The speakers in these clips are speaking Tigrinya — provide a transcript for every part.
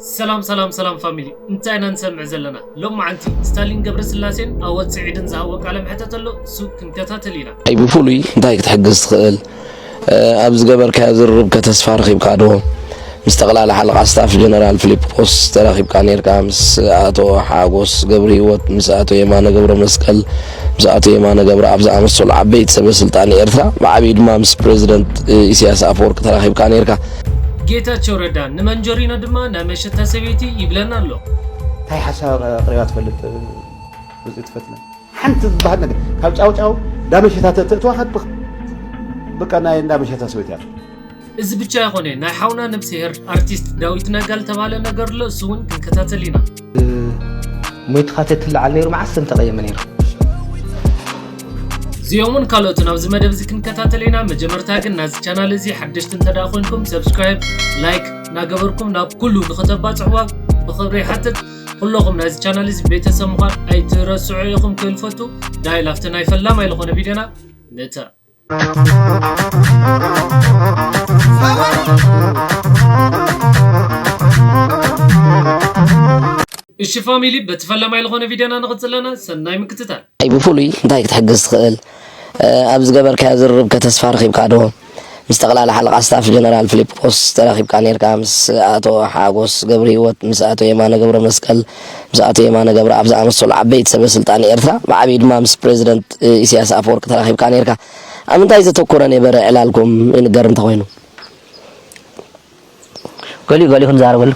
ሰላም ሰላም ሰላም ፋሚሊ እንታይ ኢና ንሰምዕ ዘለና ሎማዓንቲ ስታሊን ገብረስላሴን ኣወት ስዒድን ዝሃብዎ ቃለ መሕተት ኣሎ እሱ ክንከታተል ኢና። ኣይ ብፍሉይ እንታይ ክትሕግዝ ትኽእል? ኣብ ዝገበርካዮ ዝርርብ ከተስፋ ረኺብካ ዶ? ምስ ጠቕላላ ሓለቓ ስታፍ ጀነራል ፊሊጶስ ተራኺብካ ኔርካ? ምስ ኣቶ ሓጎስ ገብርሂወት፣ ምስ ኣቶ የማነ ገብረመስቀል፣ ምስ ኣቶ የማነ ገብረኣብ ዝኣመሰሉ ዓበይቲ ሰበ ስልጣን ኤርትራ ብዓቢኡ ድማ ምስ ፕረዚደንት ኢሳያስ ኣፈወርቂ ተራኺብካ ኔርካ። ጌታቸው ረዳ ንመንጀሪኖ ድማ ናይ መሸታ ሰበይቲ ይብለና ኣሎ። ታይ ሓሳብ ኣቅሪባ ትፈልጥ ውፅኢት ፈትነ? ሓንቲ ዝበሃል ነገር ካብ ጫውጫው ዳመሸታ ተእትእትዋ ከብቅ በቃ ናይ እንዳመሸታ ሰበይቲ እያ። እዚ ብቻ ኣይኮነ ናይ ሓውና ነብስሄር ኣርቲስት ዳዊት ነጋ ዝተባህለ ነገር ኣሎ እሱ እውን ክንከታተል ኢና ሞይትኻ ተትለዓል ነይሩ መዓስ ሰም ተቐየመ ነይሩ እዚኦምን ካልኦትን ኣብዚ መደብ እዚ ክንከታተል ኢና መጀመርታ ግን ናዚ ቻናል እዚ ሓደሽቲ እንተ ኮንኩም ሰብስክራይብ ላይክ እናገበርኩም ናብ ኩሉ ንክተባፅሕዋ ብክብሪ ይሓትት ኩለኹም ናዚ ቻናል እዚ ቤተሰብ ምዃን ኣይትረስዑ ኢኹም ክልፈቱ ዳይ ላፍቲ ናይ ፈላማይ ዝኾነ ቪድዮና ንተ እሺ ፋሚሊ በቲ ፈላማይ ዝኾነ ቪድዮና ንቕፅል ኣለና ሰናይ ምክትታል ኣይ ብፍሉይ እንታይ ክትሕግዝ ትኽእል ኣብ ዝገበርካዮ ዝርርብ ከተስፋ ረኺብካ ዶ ምስ ጠቕላላ ሓለቓ ስታፍ ጀነራል ፊሊጶስ ተራኺብካ ነርካ ምስ ኣቶ ሓጎስ ገብሪ ህይወት ምስ ኣቶ የማነ ገብረ መስቀል ምስ ኣቶ የማነ ገብረኣብ ዝኣመሰሉ ዓበይቲ ሰበ ስልጣን ኤርትራ ብዓቢኡ ድማ ምስ ፕረዚደንት ኢሲያስ ኣፈወርቂ ተራኺብካ ኔርካ። ኣብ ምንታይ ዘተኮረ ኔበረ ዕላልኩም ይንገር እንተኾይኑ? ገሊኡ ገሊኡ ክንዛረበሉ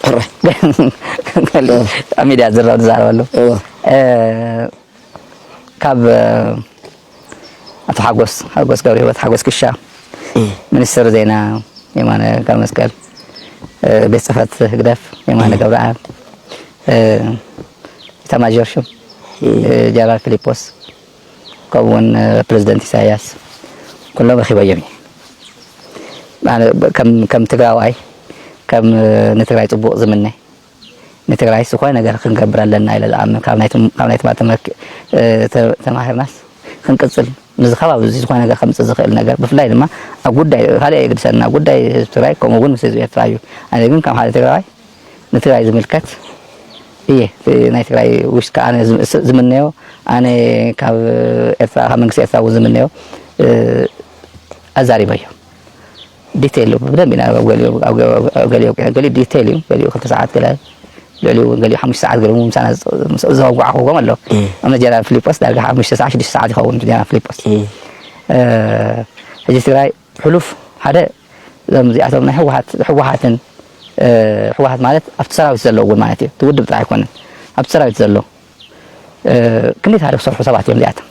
ሕራይ ገሊኡ ኣብ ሚድያ ዝዝረብ ንዛረበሉ እወ። ካብ ኣቶ ሓጎስ ሓጎስ ገብረሂወት ሓጎስ ክሻ፣ ሚኒስትር ዜና የማነ ገብረመስቀል፣ ቤት ጽሕፈት ህግደፍ የማነ ገብረኣብ፣ ኢታማዦር ሹም ጀነራል ፊሊጶስ ከምኡ እውን ፕሬዚደንት ኢሳያስ ኩሎም ረኺበዮም እዩ ከም ትግራዋይ ከም ንትግራይ ፅቡቅ ዝምነ ንትግራይ ዝኾነ ነገር ክንገብር ኣለና ኢለ ዝኣምን ካብ ናይ ትማሊ ተማሂርናስ ክንቅፅል ምስዚ ከባቢ እዚ ዝኾነ ነገር ከምፅእ ዝኽእል ነገር ብፍላይ ድማ ኣብ ጉዳይ ካልእ ኣየግድሰና ጉዳይ ህዝቢ ትግራይ ከምኡ እውን ምስ ህዝቢ ኤርትራ እዩ ኣነ ግን ከም ሓደ ትግራዋይ ንትግራይ ዝምልከት እየ ናይ ትግራይ ውሽጢ ከዓ ኣነ ዝምነዮ ኣነ ካብ ኤርትራ ካብ መንግስቲ ኤርትራ እውን ዝምነዮ ኣዛሪበዮ ዲተይል እዩ ብደንቢ ኢና ኣብ ገሊኡ ኣብ ገሊኡ ገሊኡ ኣብቂዑ ገሊኡ ዲተይል እዩ ገሊኡ ክልተ ሰዓት ገለ ልዕሊኡ እውን ገሊኡ ሓሙሽተ ሰዓት ገሊኡ እውን ምሳና ዘወጓዕኹዎም ኣሎ ኣብ ጀነራል ፊሊጶስ ዳርጋ ሓሙሽተ ሰዓት ሽዱሽተ ሰዓት ይኸውን ጀነራል ፊሊጶስ ሕጂ ትግራይ ሕሉፍ ሓደ እዞም እዚኣቶም ናይ ህወሓት ህወሓትን ህወሓት ማለት ኣብቲ ሰራዊት ዘሎ እውን ማለት እዩ እቲ ውድብ ጥራሕ ኣይኮነን ኣብቲ ሰራዊት ዘሎ ክንደይ ታሪኽ ዝሰርሑ ሰባት እዮም እዚኣቶም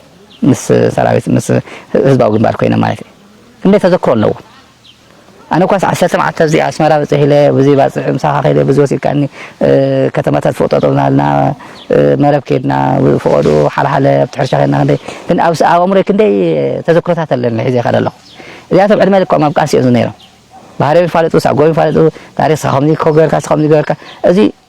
ምስ ሰራዊት ምስ ህዝባዊ ግንባር ኮይኖም ማለት እዩ ክንደይ ተዘክሮ ኣለዎ ኣነ ኳስ ዓሰርተ መዓልቲ ኣብዚ ኣስመራ ብፅሕ ኢለ ብዙይ ባፅዕ ምሳኻ ከይደ ብዙይ ወሲድካኒ ከተማታት ፍቕጠጦብናልና መረብ ከይድና ፍቐዱ ሓለሓለ ኣብቲ ሕርሻ ከይድና ክንደይ ግን ኣብ ኣእምሮይ ክንደይ ተዘክሮታት ኣለኒ ሒዘ ይኸደ ኣለኹ እዚኣቶም ዕድመ ልክዖም ኣብ ቃልሲ እዮም ዝነይሮም ባህርዮም ይፋለጡ ሳጎም ይፋለጡ ታሪክ ከምዚ ኮ ገርካ ከምዚ ገርካ እዚ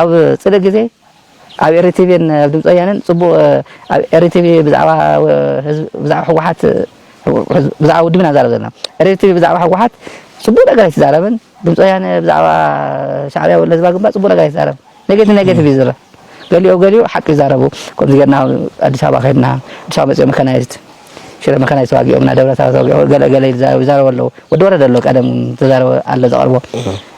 ኣብ ጽደት ግዜ ኣብ ኤሪ ቲቪን ኣብ ድምጺ ወያነን ጽቡቅ ኣብ ኤሪ ቲቪ ብዛዕባ ብዛዕባ ህወሓት ብዛዕባ ውድብ ኢና ንዛረብ ዘለና ኤሪ ቲቪ ብዛዕባ ህወሓት ጽቡቅ ነገር ኣይትዛረብን ድምጺ ወያነ ብዛዕባ ሻዕብያ ወይ ህዝባዊ ግንባር ጽቡቅ ነገር ኣይትዛረብን ኔጌቲቭ ኔጌቲቭ እዩ ዝዛረብ ገሊኦ ገሊኡ ሓቂ ይዛረቡ ከምዚ ጌርና ኣዲስ ኣበባ ከድና ኣዲስ ኣበባ መጽኦ መካናይዝድ ሽረ መካናይዝ ተዋጊኦም ና ደብረ ታቦር ተዋጊኦም ገለ ገለ ይዛረቡ ኣለዉ ወዲ ወረደ ኣሎ ቀደም ተዛረበ ኣሎ ዘቐርቦ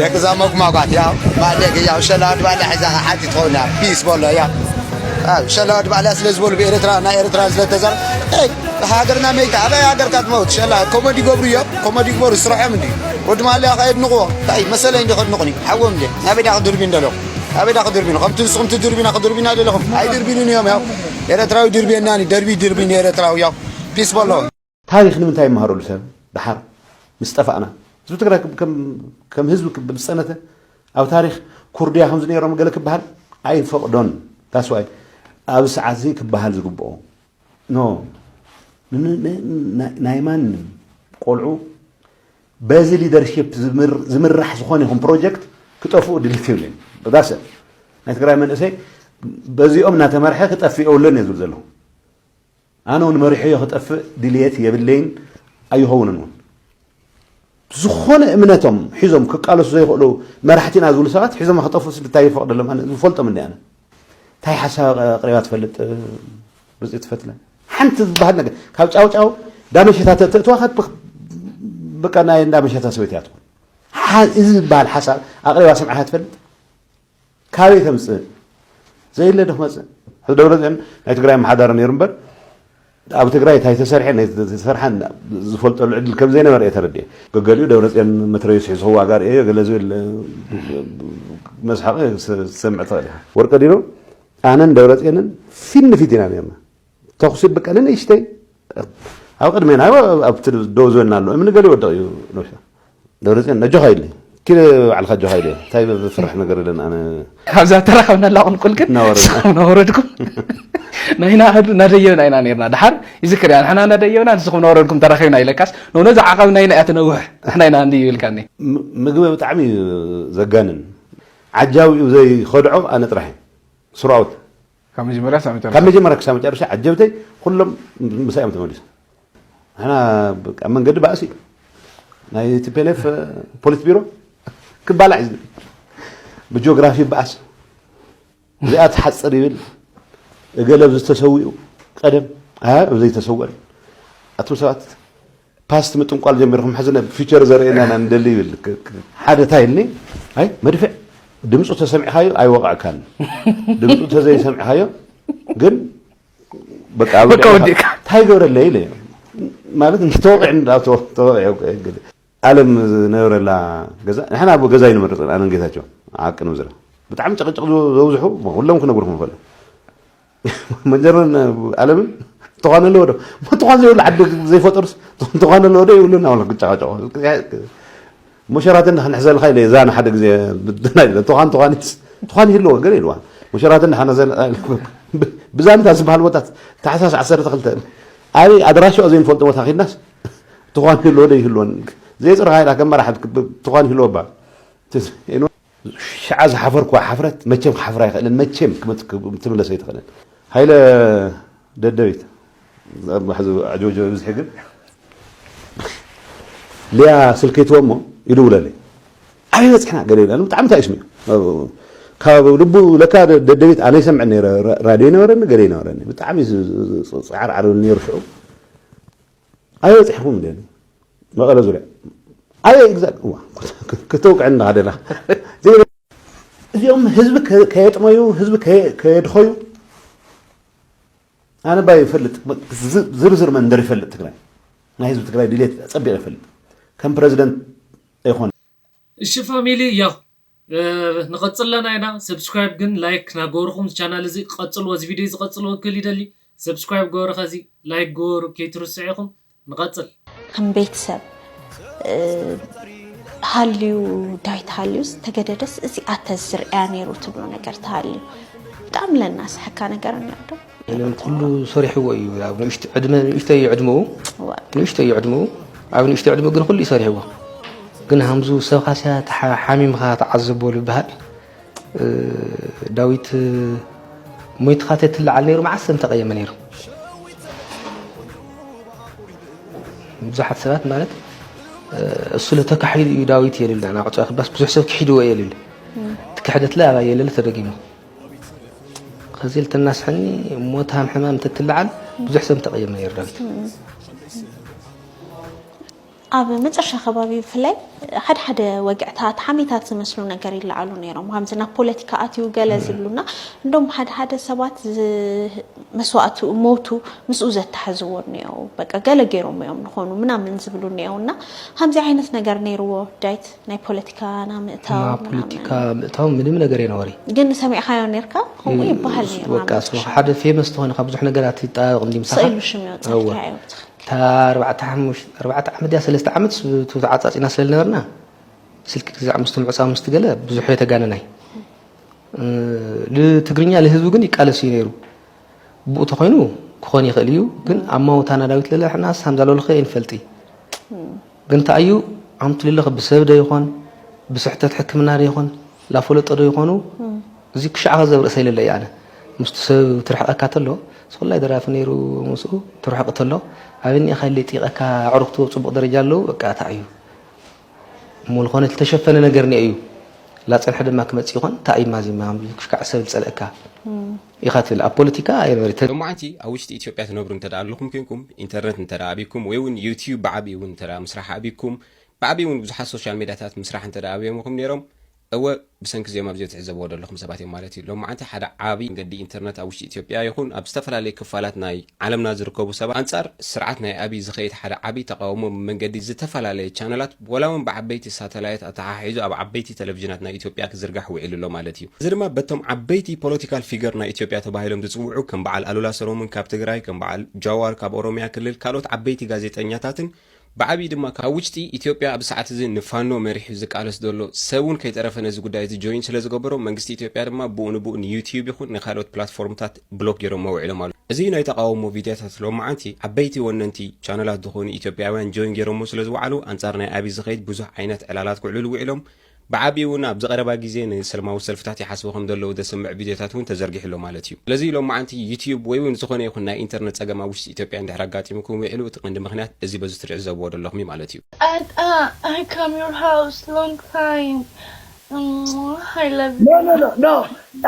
ደቅዛ መጉማጓት ያው ባለጌ ያው ሸላድ ባለ ሒዛ ሓንቲ ትኸውን ያው ፒስ በሎ ያው ሸላድ ባለ ስለ ዝበሉ ብኤርትራ ናይ ኤርትራ ስለተዘር ሃገርና መይታ ኣበይ ሃገርካ ትመውት ሸላ ኮመዲ ገብሩ እዮም ኮመዲ ግበሩ ስርሖም እንዲ ወዲ ማልያ ከ የድንቕዎ እንታይ መሰለይ እንዲ ከድንቑኒ ሓዎም እንዲ ናበይ ዳ ክድርቢ እንደለኹ ናበይ ዳ ክድርቢኑ ከምቲ ንስኹም ትድርቢና ክድርቢና ደለኹም ኣይድርቢኑን እዮም ያው ኤርትራዊ ድርብየናኒ ደርቢ ድርቢኒ ኤርትራዊ ያው ፒስ በሎ ታሪኽ ንምንታይ ይመሃረሉ ሰብ ደሓር ምስ ጠፋእና? ህዝቢ ትግራይ ከም ህዝቢ ክብል ዝፀነተ ኣብ ታሪኽ ኩርድያ ከምዚ ነይሮም ገለ ክበሃል ኣይፈቕዶን። ዳስዋይ ኣብዚ ሰዓት እዚ ክበሃል ዝግብኦ ኖ ናይ ማንም ቆልዑ በዚ ሊደርሽፕ ዝምራሕ ዝኾነ ይኹን ፕሮጀክት ክጠፍኡ ድልት ይብልን ዳሰ ናይ ትግራይ መንእሰይ በዚኦም እናተመርሐ ክጠፍእ የብሉን እየ ዝብል ዘለኹ ኣነ ውን መሪሖዮ ክጠፍእ ድልየት የብለይን ኣይኸውንን ውን። ዝኾነ እምነቶም ሒዞም ክቃለሱ ዘይኽእሉ መራሕቲ ኢና ዝብሉ ሰባት ሒዞማ ክጠፍኡስ እንታይ ይፈቕደሎም? ኣነ ዝፈልጦም እንዲ ኣነ እንታይ ሓሳብ ኣቕሪባ ትፈልጥ ርፅቲ ፈትለ ሓንቲ ዝበሃል ነገር ካብ ጫውጫው ዳመሸታ ተእትዋኻ በቃ ናይ እንዳመሸታ ሰበይቲ እያ ትኾን። እዚ ዝበሃል ሓሳብ ኣቕሪባ ሰምዕኻ ትፈልጥ? ካበይ ከምፅእ ዘየለ ዶ ክመፅእ ሕዚ ደብረፅዮን ናይ ትግራይ ኣመሓዳሪ ነይሩ እምበር ኣብ ትግራይ እንታይ ተሰርሐ ዝተሰርሐ ዝፈልጠሉ ዕድል ከም ዘይነበረ እየ ተረዲኤ ገገሊኡ ደብረፅዮን መትረየሱ ሒዙ ክዋጋ ርእየ ገለ ዝብል መስሓቂ ዝሰምዕ ትኽእል ኢኻ ወርቀ ዲኖ ኣነን ደብረፅዮንን ፊት ንፊት ኢና ነርና ተኹሲ በቃ ንንእሽተይ ኣብ ቅድሜና ኣብቲ ደው ዝበልና ኣሎ እምኒ ገለ ይወድቕ እዩ ነብሻ ደብረፅዮን ነጆኻ ኢለ ኪደ ባዕልካ ጆኻ ኢለ እንታይ ፍርሕ ነገር የለን ኣነ ካብዛ ተራኸብናላ ቁልቁል ግን ንስኹም ናወረድኩም ናይና ናደየብና ኢና ነርና ድሓር ይዝክር እያ ንሕና ናደየብና ንስኹም ናወረድኩም ተራኺብና ኢለካስ ነነዚ ዓቐብ ናይና እያ ትነውሕ ንሕና ኢና እንዲ ይብልካኒ ምግቢ ብጣዕሚ እዩ ዘጋንን ዓጃዊኡ ዘይኸድዖ ኣነ ጥራሕ እዩ ስሩኣውት ካብ መጀመርያ ክሳብ መጨረሻ ካብ መጀመርያ ክሳብ መጨረሻ ዓጀብተይ ኩሎም ምሳይ እዮም ተመሊሶም ንሕና ኣብ መንገዲ ባእሲ እዩ ናይ ቲፔሌፍ ፖሊት ቢሮ ክባላዕ እዩ ዝብል ብጂኦግራፊ ይበኣስ እዚኣ ትሓፅር ይብል እገለ ኣብዚ ተሰዊኡ ቀደም ኣብ ዘይተሰወን ኣቱም ሰባት ፓስት ምጥንቋል ጀሚርኩም ሕዚ ናብ ፊቸር ዘርእየና ኢና ንደሊ ይብል ሓደ እንታይ ኢልኒ ኣይ መድፍዕ ድምፁ ተሰሚዕካዮ ኣይወቕዕካን ድምፁ ተዘይሰሚዕካዮ ግን በቃ ኣብ በቃ ወዲእካ። እንታይ ገብረለይ ኢለ ማለት እንተወቂዕ እንዳ ተወቂዑ እንግዲህ ኣለም ዝነበረላ ገዛ ንሕና ኣብ ገዛ ይንመርፅ ኣነን ጌታቸው ሓቂ ንምዝራ ብጣዕሚ ጭቕጭቕ ዘብዝሑ ኩሎም ክነግርኩም ይኽእሉ መጀርን ኣለምን ትኳን ኣለዎ ዶ ትኳን ዘይብሉ ዓዲ ዘይፈጠሩስ ትኳን ኣለዎ ዶ ይብሉና ወላ ክጨቃጨቁ ሙሸራትን ክንሕዘልካ ኢለ እዛ ንሓደ ግዜ ትኳን ትኳኒትስ ትኳን ይህልዎ ገለ ኢልዋ ሙሸራትን ንሓነዘል ብዛንታ ዝበሃል ቦታ ታሕሳስ ዓሰርተ ክልተ ኣበይ ኣድራሻ ዘይንፈልጦ ቦታ ኪድናስ ትኳን ይህልዎ ዶ ይህልዎን ዘይፅርካ ኢላ ከም መራሕት ትኳን ይህልዎ ባል ሽዓ ዝሓፈርክዋ ሓፍረት መቸም ክሓፍር ኣይክእልን መቸም ክትምለስ ኣይትክእልን ሃይለ ደደቢት ሕዚ ኣጆጆ ብዝሒ ግን ሊያ ስልኪ ትወ እሞ ይድውለለይ ኣበይ በፅሕና ገለ ይብላ ብጣዕሚ እንታይ እዩ ስሚዑ ካብ ልቡ ለካ ደደቢት ኣነ ይሰምዕ ነረ ራድዮ ይነበረኒ ገለ ይነበረኒ ብጣዕሚ ፃዕርዓር ነሩ ሽዑ ኣይበፅሕኹም እንድየ እኔ መቐለ ዙርያ ኣበይ እግዛ እዋ ክተውቅዕኒ ዳኻ ደለኻ እዚኦም ህዝቢ ከየጥመዩ ህዝቢ ከየድኸዩ ኣነ ባይ ይፈልጥ ዝርዝር መንደር ይፈልጥ ትግራይ ናይ ህዝቢ ትግራይ ድሌት ፀቢቕ ይፈልጥ ከም ፕረዚደንት ኣይኮነ እሺ ፋሚሊ ያው ንቅጽል ኣለና ኢና ሰብስክራይብ ግን ላይክ ናገበርኹም እዚ ቻናል እዚ ቀጽልዎ እዚ ቪድዮ እዚ ቀጽልዎ ክብል ይደሊ ሰብስክራይብ ግበሩ ከዚ ላይክ ግበሩ ከይትርስዑ ኢኹም ንቀጽል ከም ቤተሰብ ሃልዩ ዳይ ተሃልዩስ ተገደደስ እዚ ኣተዝርያ ነይሩ ትብሎ ነገር ተሃልዩ ብጣዕሚ ለናስሐካ ነገር እንዶ ምንም ኩሉ ሰሪሕዎ እዩ ኣብ ንእሽቶ ዕድመ ንእሽቶ እዩ ዕድመኡ ንእሽቶ እዩ ዕድመኡ ኣብ ንእሽቶ ዕድመኡ ግን ኩሉ እዩ ሰሪሕዎ ግን ሃምዙ ሰብካ ስያ ሓሚምካ ተዓዘቦ ዝበሃል ዳዊት ሞይትካ ተትለዓል ነይሩ መዓስ ሰብ ተቐየመ ነይሩ ብዙሓት ሰባት ማለት እሱ ለተካሒዱ እዩ ዳዊት የልል ናቅጫ ክባስ ብዙሕ ሰብ ክሒድዎ የልል ትክሕደትለ ኣባ የለለ ተደጊሙ ከዚ ኢል ተናስሐኒ ሞት ሃም ሕማም ተትልዓል ብዙሕ ሰብ ተቐየመ ይረን ኣብ መጨረሻ ከባቢ ብፍላይ ሓደ ሓደ ወግዕታት ሓሜታት ዝመስሉ ነገር ይለዓሉ ነይሮም ከምዚ ናብ ፖለቲካ ኣትዩ ገለ ዝብሉና እንዶም ሓደ ሓደ ሰባት መስዋእቱ ሞቱ ምስኡ ዘተሓዝዎ እኒኦ በቃ ገለ ገይሮም እዮም ንኾኑ ምናምን ዝብሉ እኒኦና ከምዚ ዓይነት ነገር ነይርዎ ዳይት ናይ ፖለቲካ ና ምእታው ናብ ፖለቲካ ምእታው ምንም ነገር የነበሪ ግን ሰሚዕካዮ ነርካ ከምኡ ይበሃል ወቃ ሓደ ፌመስ ተኾነ ካብ ብዙሕ ነገራት ይጣበቕ እንዲ ምሳኻ ስእሉ ሽም ይወፅእካዮ እታ ኣርባዕተ ኣርባዕተ ዓመት ድያ ሰለስተ ዓመት ተዓፃፂና ስለ ዝነበርና ስልኪ ግዛዕ ምስቲ ምዕፃው ምስቲ ገለ ብዙሕ የተጋነናይ ትግርኛ ንህዝቡ ግን ይቃለስ እዩ ነይሩ ብኡ ተኮይኑ ክኾን ይኽእል እዩ ግን ኣማውታና ዳዊት ለለሕና ሳምዛለልኸ ይንፈልጢ ግን ታይ እዩ ኣምትልልኽ ብሰብ ዶ ይኾን ብስሕተት ሕክምና ዶ ይኾን ላፈለጦ ዶ ይኾኑ እዚ ክሻዕ ኸዚ ኣብ ርእሰይ ለለ እዩ ኣነ ምስቲ ሰብ ትርሕቀካ ተሎ ስኹላይ ደራፊ ነይሩ ምስኡ ትርሕቅ ተሎ ኣበይ ኒኤኻ ኢለ ይጥይቀካ ኣዕሩኽቱ ኣብ ጽቡቅ ደረጃ ኣለዉ በቃ ታይ እዩ እሞ ዝኾነ ዝተሸፈነ ነገር ኒኤ እዩ ላጸንሐ ድማ ክመጽእ ይኾን ታይ እዩ ማዚማ ክሻዕ ሰብ ዝጸልእካ ኢኻ ትብል ኣብ ፖለቲካ ኣይበርትን። ሎማዓንቲ ኣብ ውሽጢ ኢትዮጵያ ትነብሩ እንተ ኣለኹም ኮይንኩም ኢንተርነት እንተ ኣብይኩም ወይ ውን ዩትዩብ ብዓብይኡ ውን እንተ ምስራሕ ኣብይኩም ብዓብይኡ ውን ብዙሓት ሶሻል ሜድያታት ምስራሕ እንተ ኣብዮምኹም ነይሮም እወ ብሰንኪ እዚኦም ኣብዚ ትዕዘብዎ ዘለኹም ሰባት እዮም ማለት እዩ ሎማዓንቲ ሓደ ዓብይ መንገዲ ኢንተርነት ኣብ ውሽጢ ኢትዮጵያ ይኹን ኣብ ዝተፈላለዩ ክፋላት ናይ ዓለምና ዝርከቡ ሰባት ኣንፃር ስርዓት ናይ ኣብይ ዝኸይድ ሓደ ዓብይ ተቓውሞ ብመንገዲ ዝተፈላለየ ቻነላት ወላ ውን ብዓበይቲ ሳተላይት ኣተሓሒዙ ኣብ ዓበይቲ ተለቭጅናት ናይ ኢትዮጵያ ክዝርጋሕ ውዒሉ ኣሎ ማለት እዩ። እዚ ድማ በቶም ዓበይቲ ፖለቲካል ፊገር ናይ ኢትዮጵያ ተባሂሎም ዝጽውዑ ከም በዓል ኣሉላ ሰሎሙን ካብ ትግራይ፣ ከም በዓል ጃዋር ካብ ኦሮሚያ ክልል፣ ካልኦት ዓበይቲ ጋዜጠኛታትን ብዓብዪ ድማ ካብ ውጭጢ ኢትዮጵያ ኣብዚ ሰዓት እዚ ንፋኖ መሪሑ ዝቃለስ ዘሎ ሰብ ውን ከይተረፈ ነዚ ጉዳይ እዚ ጆይን ስለዝገበሮ መንግስቲ ኢትዮጵያ ድማ ብኡ ንብኡ ንዩትዩብ ይኹን ንካልኦት ፕላትፎርምታት ብሎክ ጌሮሞ ውዒሎም ኣሉ እዚ ናይ ተቃውሞ ቪድያታት ሎምዓንቲ ዓበይቲ ወነንቲ ቻነላት ድኮኑ ኢትዮጵያውያን ጆይን ጌሮሞ ስለ ዝውዓሉ ኣንጻር ናይ ኣቢ ዝከይድ ብዙሕ ዓይነት ዕላላት ክውዕሉሉ ውዒሎም ብዓቢኡ ውን ኣብዚ ቀረባ ግዜ ንሰልማዊ ሰልፍታት ይሓስቡ ከም ዘለዉ ዘስምዕ ቪድዮታት ውን ተዘርጊሑ ኣሎ ማለት እዩ ስለዚ ሎምዓንቲ ዩትዩብ ወይ ውን ዝኮነ ይኩን ናይ ኢንተርነት ጸገም ኣብ ውሽጢ ኢትዮጵያ እንድሕር ኣጋጢሙኩም ውዒሉ እቲ ቀንዲ ምክንያት እዚ በዚ ትርዕዘብዎ ደለኩም እዩ ማለት እዩ። ኣታ ኣይ ካም ዩር ሃውስ ሎንግ ታይም እም ሃይ ላቭ ዩ ኖ ኖ ኖ ኖ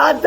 ኣታ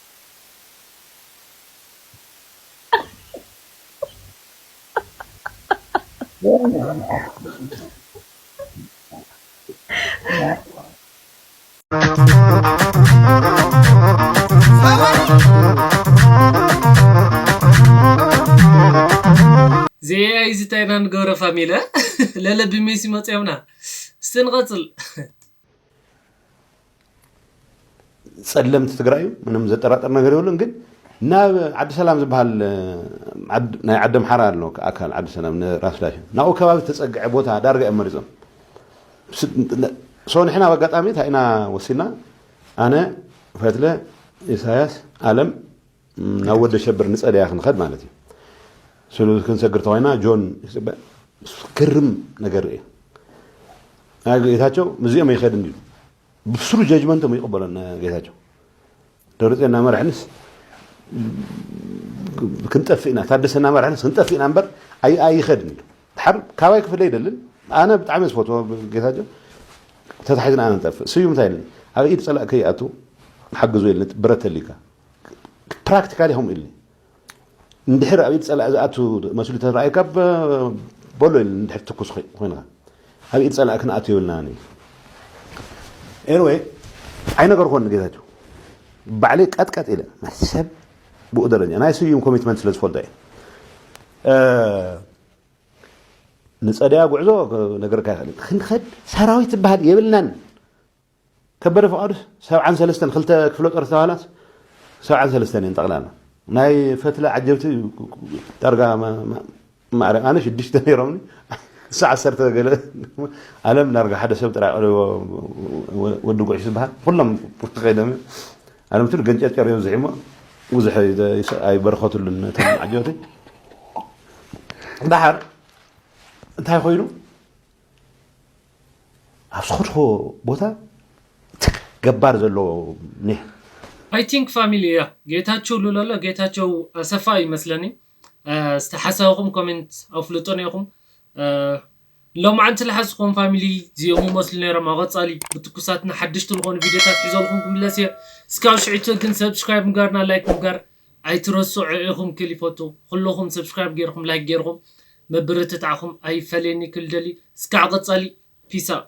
ዘየያይዝ እንታይ ኢና ንገብሮ ፋሚለ ለለ ብሜሲ መፅዮምና እስቲ ንቐፅል ፀለምቲ ትግራይ እዩ ምንም ዘጠራጥር ነገር የብሉን ግን ናብ ዓዲ ሰላም ዝበሃል ናይ ዓዲ ኣምሓራ ኣሎ ኣካል ዓዲ ሰላም ንራስ ዳሽን ናብኡ ከባቢ ዝተፀግዐ ቦታ ዳርጋ እዮም መሪፆም ሶ ንሕና ኣብ ኣጋጣሚ እንታይ ኢና ወሲድና ኣነ ፈትለ ኢሳያስ ኣለም ናብ ወዲ ኣሸብር ንጸደያ ክንኸድ ማለት እዩ ስሉ ክንሰግር ተኮይና ጆን ክርም ነገር ርእየ ናይ ጌታቸው ምስዚኦም ኣይኸድን እዩ ብስሩ ጀጅመንቶም ይቕበሎ ጌታቸው ደብረፅዮን እናመርሐንስ ክንጠፍእ ኢና ታደሰ እናመርሐንስ ክንጠፍእ ኢና እምበር ኣይኸድን እዩ ድሓር ካባይ ክፍለ ይደልን ኣነ ብጣዕሚ ዝፈትዎ ጌታቸው ተታሒዝና ኣነ ንጠፍእ ስዩ እንታይ ኢልን ኣብ ኢድ ፀላእ ከይኣቱ ንሓግዞ ኢልን ብረት ተሊካ ፕራክቲካሊ ከምኡ ኢሉኒ እንድሕር ኣብ ኢድ ፀላኢ ዝኣቱ መስሉ ተረኣየካ በሎ ኢሉኒ እንድሕር ትኩስ ኮይንካ ኣብ ኢድ ፀላኢ ክንኣቱ የብልናን እዩ ኤንወይ ኣይነገርኮን ንጌታቸው ባዕለይ ቀጥቀጥ ኢለ ሰብ ብኡ ደረጃ ናይ ስዩም ኮሚትመንት ስለ ዝፈልጦ እየ ንፀደያ ጉዕዞ ነገርካ ይኽእል ክንኸድ ሰራዊት ዝበሃል የብልናን ከበደ ፍቃዱ ሰብዓን ሰለስተን ክልተ ክፍለ ጦር ዝተባህላስ ሰብዓን ሰለስተን እየን ጠቅላላ ናይ ፈትለ ዓጀብቲ ዳርጋ ማዕረ ኣነ ሽዱሽተ ነይሮምኒ እሳ ዓሰርተ ገለ ኣለም ዳርጋ ሓደ ሰብ ጥራይ ቀሪቦ ወዲ ጉዕሽ ዝበሃል ኩሎም ከይዶም እዮም ኣለም ትሉ ገንጨርጨር እዮም ዝሒሞ ብዙሕ ኣይበረኸትሉን ነቶም ዓጀብቲ ዳሓር እንታይ ኮይኑ ኣብ ዝኸድክዎ ቦታ ትክ ገባር ዘለዎ ኒሕ። I think ፋሚሊ እያ ጌታችው ልለሎ ጌታቸው ኣሰፋ እዩ መስለኒ እስቲ ሓሳብኹም ኮሜንት ኣፍሉጡኒ ኢኹም ሎማዓንቲ ልሓዝኹዎም ፋሚሊ ዚኦም ይመስሉ ነይሮም ኣቐፃሊ ብትኩሳትና ሓደሽቲ ልኾኑ ቪድዮታት ሒዘልኹም ክምለስ እየ እስካብ ሽዕቱ ግን subscribe ምግባርና like ምግባር ኣይትረስዑ ኢኩም ኪሊፎቱ ኩሉኩም ሰብስክራይብ ገርኩም ላይክ ገርኩም ምብርትታዕኩም ኣይፈለየኒ ክል ደሊ እስካዕ ቀጻሊ ፒስ ኣውት።